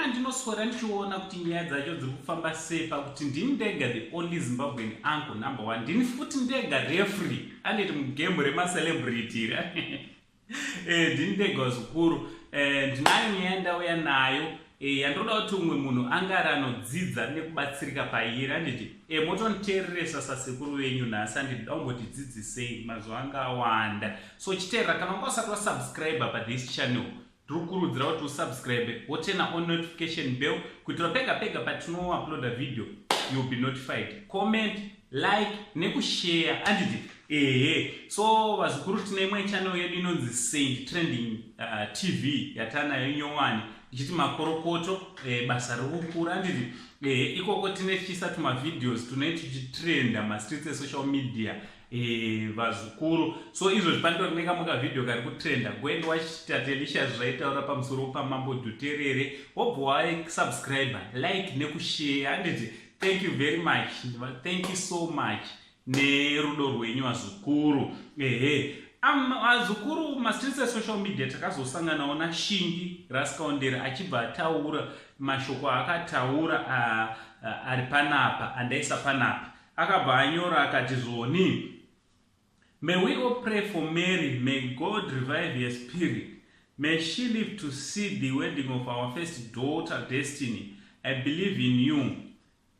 ndinoswera ndichiona kuti nyaya dzacho dziri kufamba sei pakuti ndini ndega the only zimbabwean anko number one ndini futi ndega refree anditi mugembo remacelebrity ra eh, ndini ndega zvikuru eh, ndinayo nyaya ndauya nayo E, yandinoda kuti umwe munhu ange ari anodzidza nekubatsirika pairi anditi e, motoniteereresa sasekuru venyu nhasi anditi daumbotidzidzisei mazuva anga awanda so chiteerera kana unga usati wasubscribe pathis channel tinokurudzira kuti usubscribe wotena on notification bell kuitira pega pega patinouploada video youll be notified comment like nekushare andidi ehe so vazukuru tine imwe channel yedu inonzi saint trending uh, tv yatanayo nyowani ichiti makorokoto e, basa rikukura andidi ehe ikoko tine tichiisa tumavideos tune tichitrenda mastreets esocial media e, vazukuru so izvozvi panditori nekamuka video kari kutrenda goend wachitatelisha zvaitaura pamusoro pamambo dhuterere wobva waisubscribe like nekushare andidi thank you very much thank you so much nerudo rwenyu vazukuru ehe vazukuru mastreets esocial media takazosanganawo nashingi raskaondere achibva ataura mashoko aakataura ari panapa andaisa panapa akabva anyora akati zvoni May we all pray for Mary, may God revive her spirit. May she live to see the wedding of our first daughter, Destiny. I believe in you.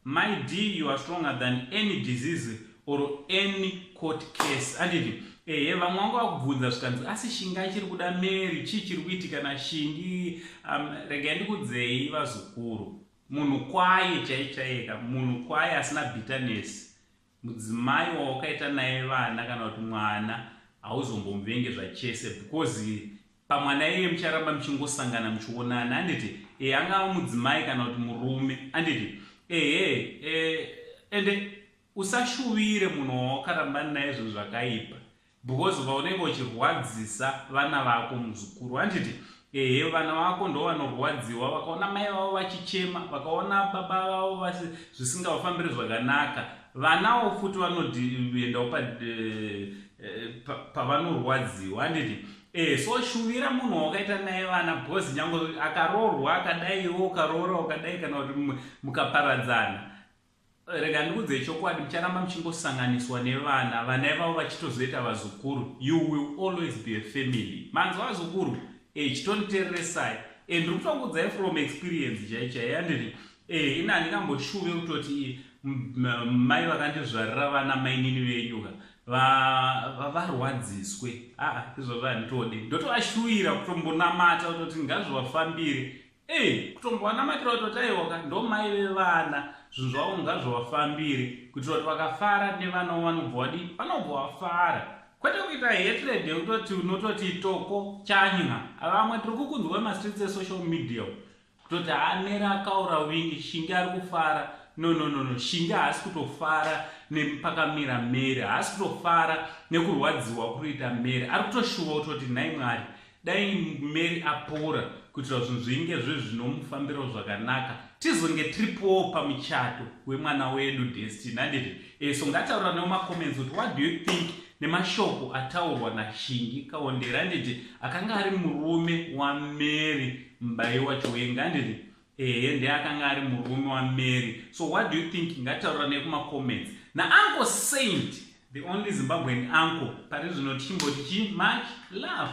My D, you are stronger than any disease or any court case. Anditi, ehe, vamwe vangu vakubvunza zvikanzi, asi shinga chiri kuda Mary, chii chiri kuitika na shingi? Um, rega ndikudzei vazukuru. Munhu kwaye chaichayeka, munhu kwaye asina bitterness. Mudzimai wawakaita naye vana kana kuti mwana hauzombomuvengi zvachese because pamwana iye mucharamba muchingosangana muchionana anditi e angava mudzimai kana kuti murume anditi ehe e, ende usashuvire munhu wawakarambana naye zvinhu zvakaipa Because uka unenge uchirwadzisa vana vako muzukuru handiti ehe vana vako ndo vanorwadziwa vakaona mai vavo vachichema vakaona baba vavo vasi zvisingavafambiri zvakanaka vanawo futi vanodiendawo pa eh, eh, pavanorwadziwa handiti Eh, so shuvira munhu wakaita naye vana because nyange akaroorwa akadaiwo ukaroora ukadai kana kuti mukaparadzana Rega ndikuudzei chokwadi, mucharamba muchingosanganiswa nevana, vana ivavo vachitozoita vazukuru. You will always be a family. Manzwa vazukuru? Eh, chitonditereresai. Eh, ndiri kutokuudzai from experience chai chai yandiri. Eh, ini handingamboshuve kutoti mai vakandizvarira vana mainini venyu ka varwadziswe aa izvozvo handitode ndotovashuvira kutombonamata kutoti ngazvivafambire Hey, kutombowanamatira kutoti aiwoka ndo mai vevana zvinhu zvavo ngazvovafambiri kuitira kuti vakafara nevana wo vanobva wadii vanobva wafara kwete kuita hatred yekutoti unototi toko chanya vamwe tiri kukunzwa mastreets esocial media kutoti anere akaura wingi shingi ari kufara no no no no shingi haasi kutofara nepakamira mary haasi kutofara nekurwadziwa kurita mary ari kutoshuva kutoti nhai mwari dai mary apora kuitira zvinhu zvinge zve zvinomufambirawo zvakanaka tizonge tiripowo pamuchato wemwana wedu destiny handiti e eh, so ngataura newo macomments kuti what do you think nemashoko ataurwa nashingi kaondera handiti akanga ari murume wamary mbai wacho wenga handiti ehe ndiye akanga ari murume wamary so what do you think ngataura nekumacomments nauncle saint the only zimbabwean uncle pari zvino tichimboti chii much love